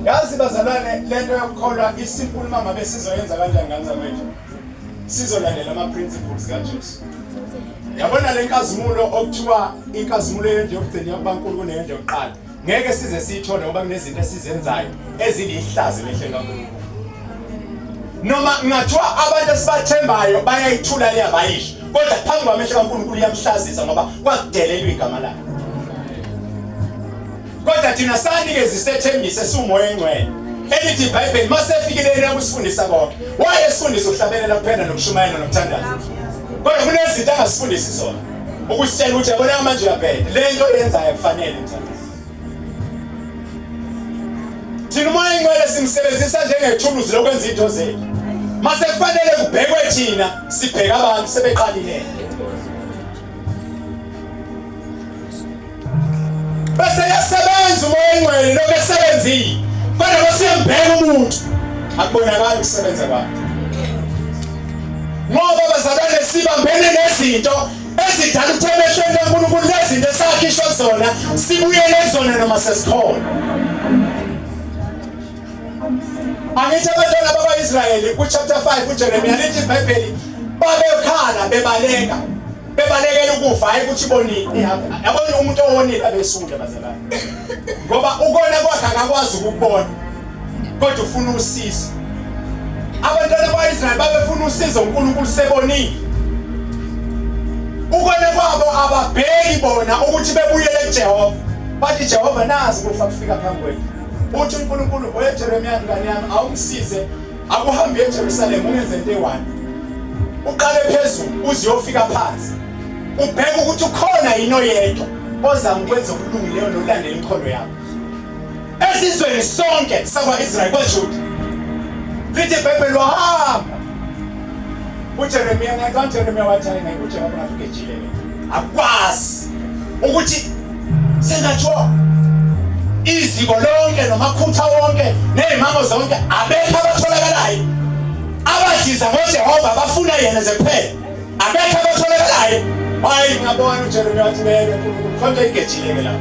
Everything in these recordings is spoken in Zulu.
yazi bazalwane lento yokukholwa isimple mama besizoyenza kanjani ngane zamanje sizolandela ama-principles kajesu yabona le nkazimulo okuthiwa inkazimulo yendlu yokugcina yakubankulu kuneyendlu yokuqala ngeke size siyithole ngoba kunezinto esizenzayo ezilihlazo emehlweni kaNkulunkulu noma ngathiwa abantu esibathembayo bayayithula leya bayisho kodwa phambi kwamehlo kaNkulunkulu iyamhlazisa ngoba kwakudelelwa igama lakhe kodwa thina sanikeza isethembiso esiwumoya engcwele elithi ibhayibheli masefikelele nakusifundisa konke wayesifundisa ukuhlabelela kuphela nokushumayela nokuthandaza kodwa kunezinto angasifundisi zona ukusitshela ukuthi yabona manje uyabheda le nto yenzayo kufanele mthandazi thina umoya ingcwele simsebenzisa njengethuluzi lokwenza into zethu mase kufanele kubhekwe thina sibheka abantu sebeqalilele bese yasebenza umoya engcwele lokho esebenzile kodwa basiyambheka umuntu akubonakali ukusebenza kwakhe ngoba bazalwane sibambene nezinto ezidala ukuthi emehlweni kaNkulunkulu lezinto esakhishwa kuzona sibuyele kuzona noma sesikhona angithi abantwana bakwa-israyeli kuchapter 5 ujeremiya lithi ibhayibheli babekhala bebaleka bebalekela ukufa hayi ukuthi bonini yabona umuntu owonile abesule bazalwane ngoba ukona kwakhe akakwazi ukubona kodwa ufuna usizo abantwana bakwa-israyeli babefuna usizo unkulunkulu sebonile ukona kwabo ababheki bona ukuthi bebuyele kujehova bathi jehova nazi kufa kufika phambi kwethu uthi unkulunkulu oyejeremiya ngane yami awungisize akuhambe eJerusalem ungenze into eyi-one uqale phezulu uze uyofika phansi ubheke ukuthi ukhona yini oyedwa ozama ukwenza okulungileyo nokulandela inkhondo yakho esizweni sonke sakwa-israyeli kwajuda lithi ibhayibheli wahamba ujeremiya ngathi ujeremiya wathi hayi naye ujehova ngathi ugejile akwazi ukuthi Sengatsho iziko lonke nomakhutha wonke nezimango zonke abekho abatholakalayo abadliza ngoJehova bafuna yena nje kuphela abekho abatholakalayo hayi ngabona uJeremiya wathi beke konke igejileke lapho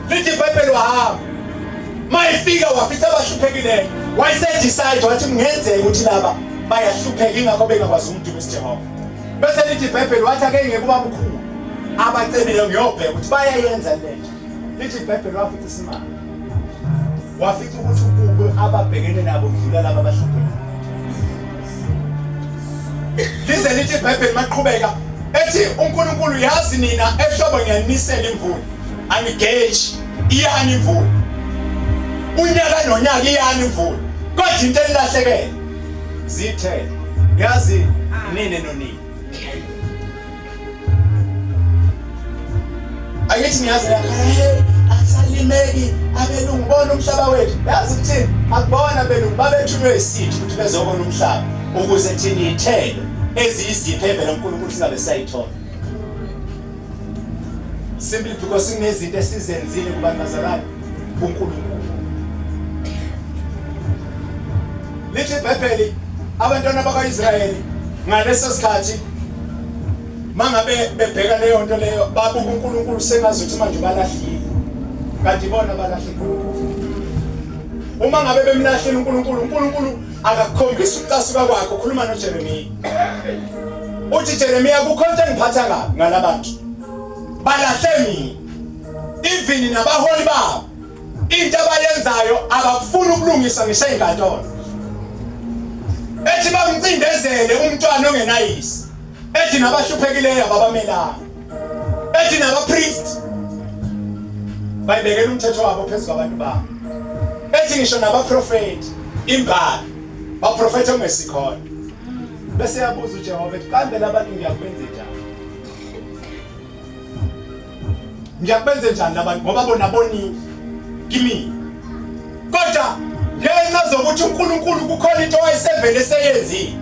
lithi ibhayibheli wahamba mayifika wafitha abahluphekile wayesedisayido wathi kungenzeka ukuthi laba bayahlupheka ingakho bengakwazi umdumo esijehova bese lithi ibhayibheli wathi ake ngeke uba bukhulu abacebile ngiyobheka ukuthi bayayenza le nto lithi ibhayibheli wafica isimanga wafica ukuthi ukube ababhekene nabo kudlula laba abahluphekile lize lithi ibhayibheli maqhubeka ethi unkulunkulu yazi nina ehlobo ngiyanisela imvula angigeji iyani imvula unyaka nonyaka iyani imvula kodwa into enilahlekele zithe yazi nini nonini ayithi niyazi asalimeki abelungu bona umhlaba wethu yazi ukuthi akubona belungu babethunywe isithi ukuthi bezobona umhlaba ukuze thina iyithelo eziyiziphi evela uNkulunkulu singabe sayithola Simply because sinezinto esizenzile kubantu bazalwane kuNkulunkulu. Lithi iBhayibheli abantwana bakwaIsrayeli ngaleso sikhathi mangabe bebheka leyo nto leyo babuka uNkulunkulu sengazi ukuthi manje balahlile kanti bona balahle uma ngabe bemlahlile uNkulunkulu uNkulunkulu akakhombisa ukucasuka kwakhe ukhuluma noJeremiya uthi Jeremiya kukho into engiphatha kabi ngalabantu balahle mina even nabaholi babo into abayenzayo abakufuni ukulungisa ngisho ezinkantolo ethi bamcindezele umntwana ongenayisi ethi nabahluphekileyo ababamelanga ethi nabapriest bayibekela umthetho wabo phezu kwabantu babo ethi ngisho nabaprofeti imbali baprofetha ongesikhona bese yabuza uJehova ethi kambe labantu ngiyakubenze njani ngiyakubenze njani labantu ngoba bona bonile kimi kodwa ngenxa zokuthi uNkulunkulu kukhona into wayesevele seyenzile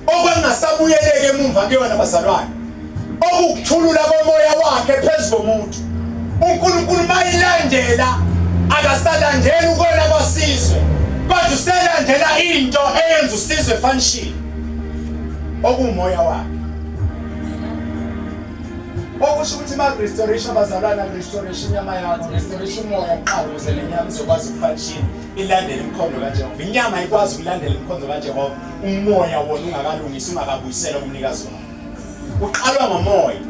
okwangasabuyeleke emumva kuyona bazalwane okukuthulula komoya wakhe phezu komuntu unkulunkulu mayilandela akasalandeli ukona kwasizwe kodwa uselandela into eyenza usizwe efanishile okuwumoya wakhe okusho ukuthi ma-restoration abazalwana restoration inyama yakho restoration umoya kuqala ukuze le nyama izokwazi ukufanishini ilandele imikhondo kajehova inyama ikwazi ukulandela imikhondo kajehova umoya wona ungakalungisi ungakabuyisela umnikazi wakho Uqalwa ngomoya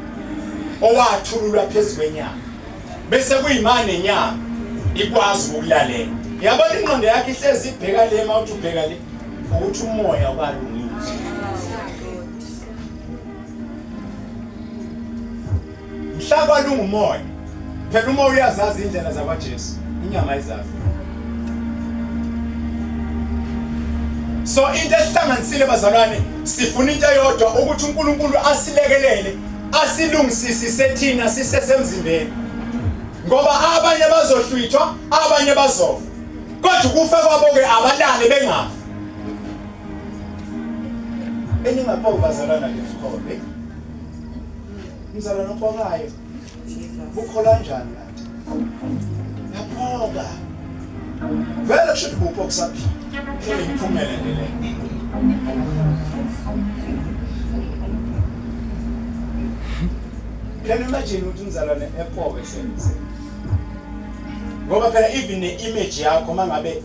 owathululwa phezu kwenyanga bese kuyimane inyanga ikwazi ukulalela. Yabona ingqondo yakhe ihlezi ibheka le mawuthi ubheka le ukuthi umoya ubalungile. Mhla kwalunga umoya. Phela uma uyazazi indlela zakwaJesu, inyama ayizazi. So into ehlanganisile bazalwane sifuna into eyodwa ukuthi uNkulunkulu asilekelele asilungisisise thina sisesemzimbeni ngoba abanye bazohlwithwa abanye bazofa kodwa ukufa kwabo ke abalale bengafi eningaphoki bazalwana lesikole Mzalwane obokayo. Ukholwa njani kanti? Yaphoka. Vele kusho ukuthi bupho kusaphila. Imphumela nje le. Can you imagine ukuthi umzalwane epoke senze? Ngoba phela even ne-image yakho mangabe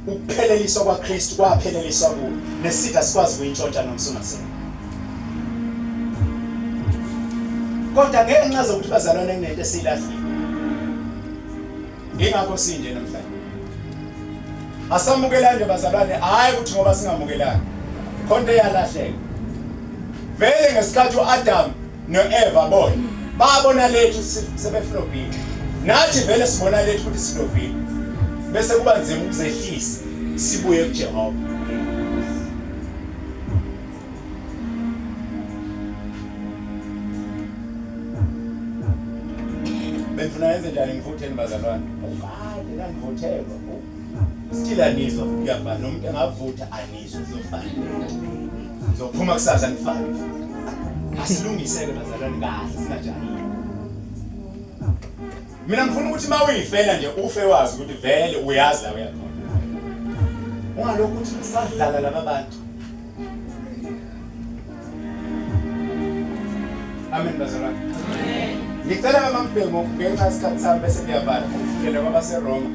ukupheleliswa kwaKristu kwapheleliswa kuwo nesitha sikwazi kuyintshontsha noma sungasena kodwa ngeke ncaze ukuthi bazalwane kunento esilahlile ingakho sinje namhlanje asamukelani bazalwane hayi ukuthi ngoba singamukelani khonto eyalahleka vele ngesikhathi uAdam noEva boy babona lethu sebefuna ubhinqa nathi vele sibona lethu ukuthi sinovile bese kuba nzima ukuzehlisa sibuye kuJehova bengifuna yenze njani ngivutheni bazalwane ubani nangivuthelwa still anizwa futhi kuyafana nomuntu engavutha anizwa zofana zophuma kusasa nifana asilungiseke bazalwane kahle sinajani mina ngifuna ukuthi uma uyifela nje ufe wazi ukuthi vele uyazi la uyakhona ungalokhu ukuthi sadlala laba bantu Amen bazalwane. Ngicela mama Mbhemu ngenxa isikhathi sami bese ngiyavala ngifundele kwabase Roma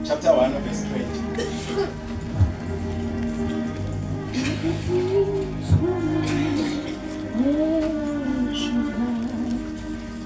chapter 1 verse 20.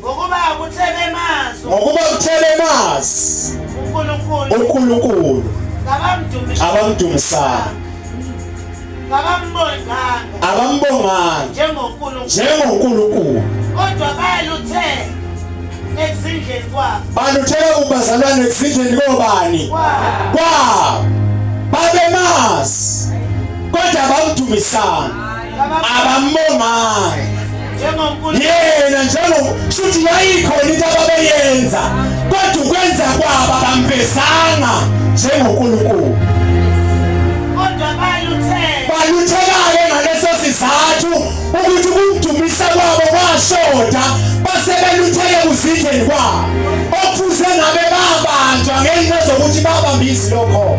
ngokuba kuthe bemazi ngokuba kuthe bemazi uNkulunkulu uNkulunkulu abamdumisanga abambonganga njengonkulunkulu kodwa baluthe ekuzindleni kwabo baluthela kubazalwane ekuzindleni kobani kwabo babemazi kodwa abamdumisanga abamongayo yena njengo shuthi yayikhona into ababeyenza kodwa ukwenza kwabo abamvezanga njengonkulunkulu baluthekayo ngaleso sizathu ukuthi ukumdumisa kwabo kwashoda base belutheke kuzindleni kwabo okufuze ngabe babanjwa ngenxa zokuthi babambisi lokho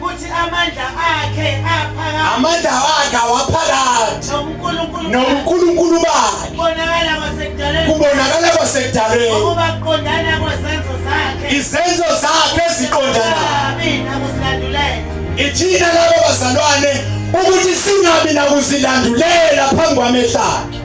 Kuthi amandla akhe aphakathi. Amandla wakhe awaphakathi. NoNkulunkulu. NoNkulunkulu bakhe. Kubonakala kwasekudaleni. Kubonakala kwasekudaleni. Ukubaqondana kwezenzo zakhe. Izenzo zakhe eziqondana. Mina kusilandulela. Ithina labo bazalwane ukuthi singabi nakuzilandulela phambi kwamehla akhe.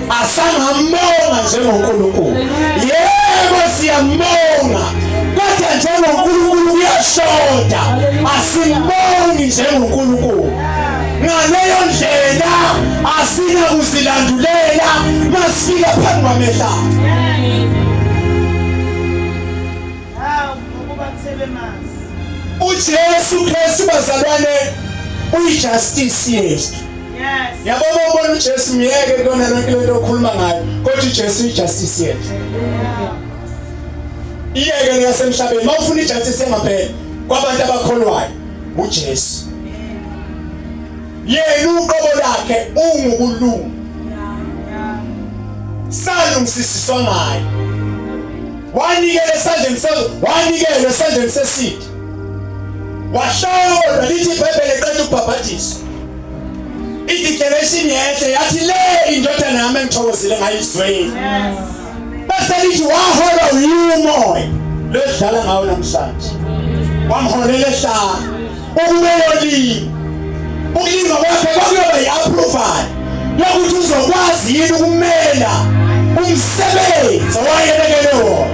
asangambona njengoNkulunkulu yebo siyambona kodwa njengoNkulunkulu kuyashoda asimboni njengoNkulunkulu ngaleyo ndlela asina kuzilandulela masifika phambi kwamehla uJesu Kristu bazalwane uyijustice yethu Yes. Yabo ubona uJesu myeke kuyona yonke lento okhuluma ngayo kodwa uJesu ijustice yethu. Iyeke leyasemhlabeni mawufuna ijustice engapheli kwabantu abakholwayo uJesu. Yena uqobo lakhe ungukulunga. Salungisiswa ngaye. Wanikele esandleni sazo, wanikele esandleni sesitha. Wahlawula lithi iBhayibheli eqeda ukubhabhathiswa. ideclaration yehle yathi le indodana yami engithokozile ngayizweni bese lithi wahola uyumoya lodlala ngawo namhlanje wamholela ehlala ukube yolini ukulima kwakhe kwakuyoba yi-approval yokuthi uzokwazi yini ukumela umsebenzi owayebekelwe wona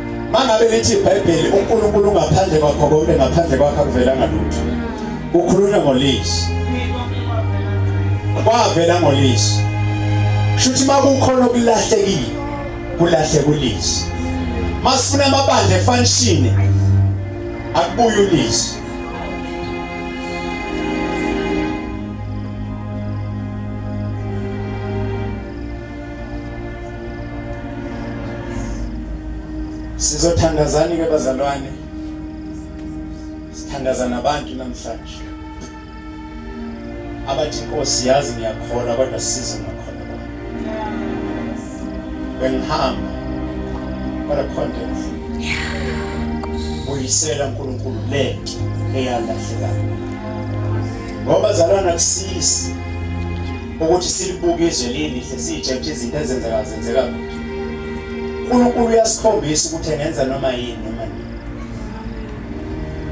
Mangabe lithi iBhayibheli uNkulunkulu ungaphandle kwakho konke ngaphandle kwakhe akuvelanga lutho. Ukhulunywa ngolizwi. Kwavela ngolizwi. Shuthi makukhona okulahlekile kulahle kulizwi. Masifuna amabandla efanishini akubuye ulizwi. Sizothandazani ke bazalwane? Sithandaza nabantu namhlanje. Abathi Nkosi yazi ngiyakholwa kodwa siza ngakhona kwami. Bengihamba kodwa content. Uyisela uNkulunkulu lento eyalahlekayo. Ngoba zalwana kusisi ukuthi silibuke izwe lilihle siyitshe ukuthi izinto ezenzeka zenzeka kude uNkulunkulu uyasikhombisa ukuthi engenza noma yini noma nini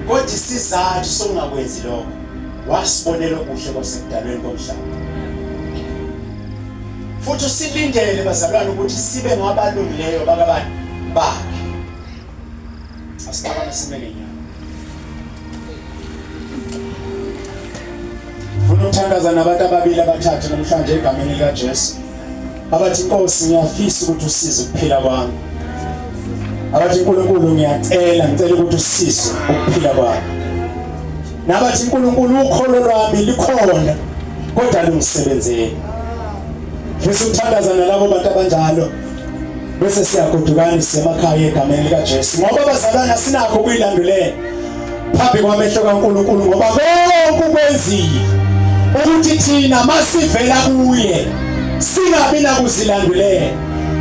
kodwa isizathu sokungakwenzi lokho wasibonela okuhle kwasekudalweni komhlaba futhi usilindele bazalwane ukuthi sibe ngabalungileyo bakabani bakhe Asingabona sime ngenyanga. Funa ukuthandaza nabantu ababili abathathu namhlanje egameni likaJesu. Abathi Nkosi ngiyafisa ukuthi usize ukuphila kwami. Abathi Nkulunkulu ngiyacela ngicela ukuthi usize ukuphila kwami. Nabathi Nkulunkulu ukholo lwami likhona kodwa lungisebenzele. Ngifisa ukuthandaza nalabo bantu abanjalo. bese siyagodukanisa emakhaya egameni likaJesu ngoba abazalwane asinakho ukuyilandulela phambi kwamehlo kaNkulunkulu ngoba konke ukwenzile ukuthi thina masivela kuye singabi nakuzilandulela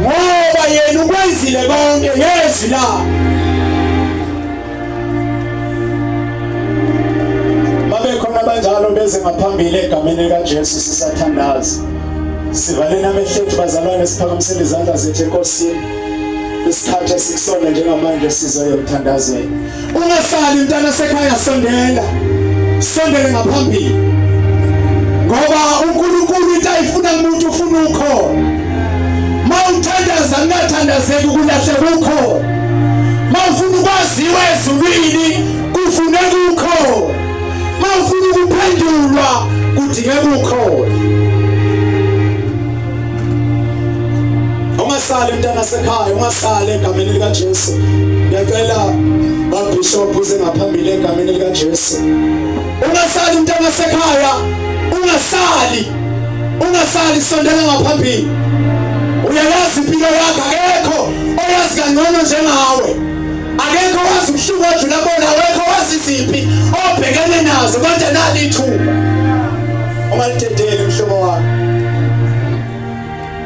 ngoba yena ukwenzile konke ngezwi lakhe babekhona abanjalo beze ngaphambili egameni likaJesu sisathandaza sivaleni amehlo ethu bazalwane siphakamisele izandla zethu enkosini isikhathi esikusona njengamanje sizoyo emthandazweni ungasali mntana sekhaya sondela sondele ngaphambili ngoba uNkulunkulu into ayifuna umuntu ufuna ukhona mawuthandaza kungathandazeki ukulahle kukho mawufuna ukwaziwa ezulwini kufune kukho mawufuna ukuphendulwa kudinge kukho ungasali mntana sekhaya ungasali egameni likaJesu ngiyacela babishop uze ngaphambili egameni likaJesu ungasali mntana sekhaya ungasali ungasali sondela ngaphambili uyayazi impilo yakho akekho oyazi kangcono njengawe akekho wazi ubuhlungu odlula bona awekho wazi iziphi obhekene nazo konje nalithuba ungalidedeli mhlobo wami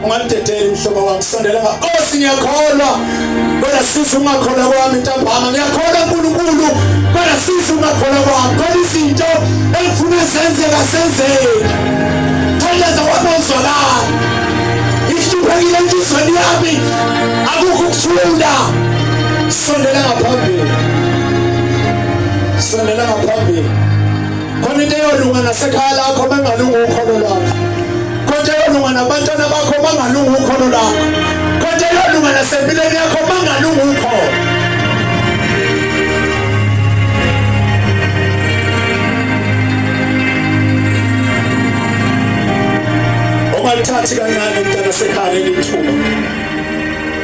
ungandidedeli mhlobo wami sondela ngakosi ngiyakholwa kodwa sisi ungakholwa kwami ntambama ngiyakholwa nkulunkulu kodwa sisi ungakholwa kwami khona izinto engifuna zenzeka senzeki thandeza wami ozwakala ihluphekile enhlizweni yami akukho ukuthula sondela ngaphambili sondela ngaphambili khona into eyolunga nasekhaya lakho mangalunga ukholo lwakho konke eyolunga nabantwana bakho mangalunga ukholo lakho konke eyolunga nasempilweni yakho mangalunga ukholo ungalithathi kancane mntana sekhaya lelithuba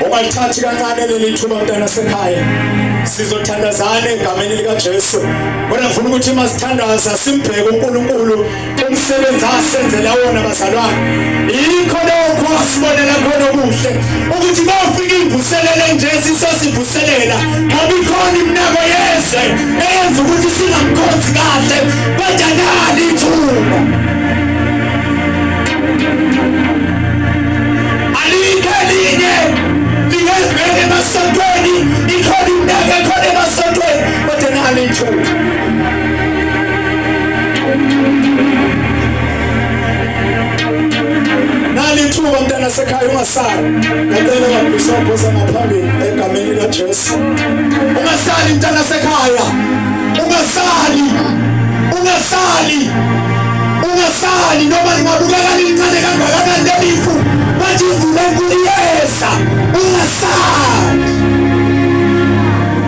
ungalithathi kancane lelithuba mntana sekhaya sizothandazana egameni likajesu Kodwa ngifuna ukuthi uma sithandaza simbheke uNkulunkulu umsebenzi asenzela wona bazalwane. Yikho lokho asibonela khona okuhle ukuthi kofika imvuselelo nje sisosivuselela ngoba ikhona iminako yezwe eyenza ukuthi singamkhonzi kahle kodwa nali ithuba. Alikho elinye lingezwele emasontweni ikhona iminako ekhona emasontweni Kodwa nami ithuba. Nami ithuba mntana sekhaya ungasali. Ngicela babishop osamaphambili egameni likaJesu. Ungasali mntana sekhaya. Ungasali. Ungasali. Ungasali noma lingabukeka lincane kangakanani leli ifu. Bathi ivule nkulu iyeza. Ungasali.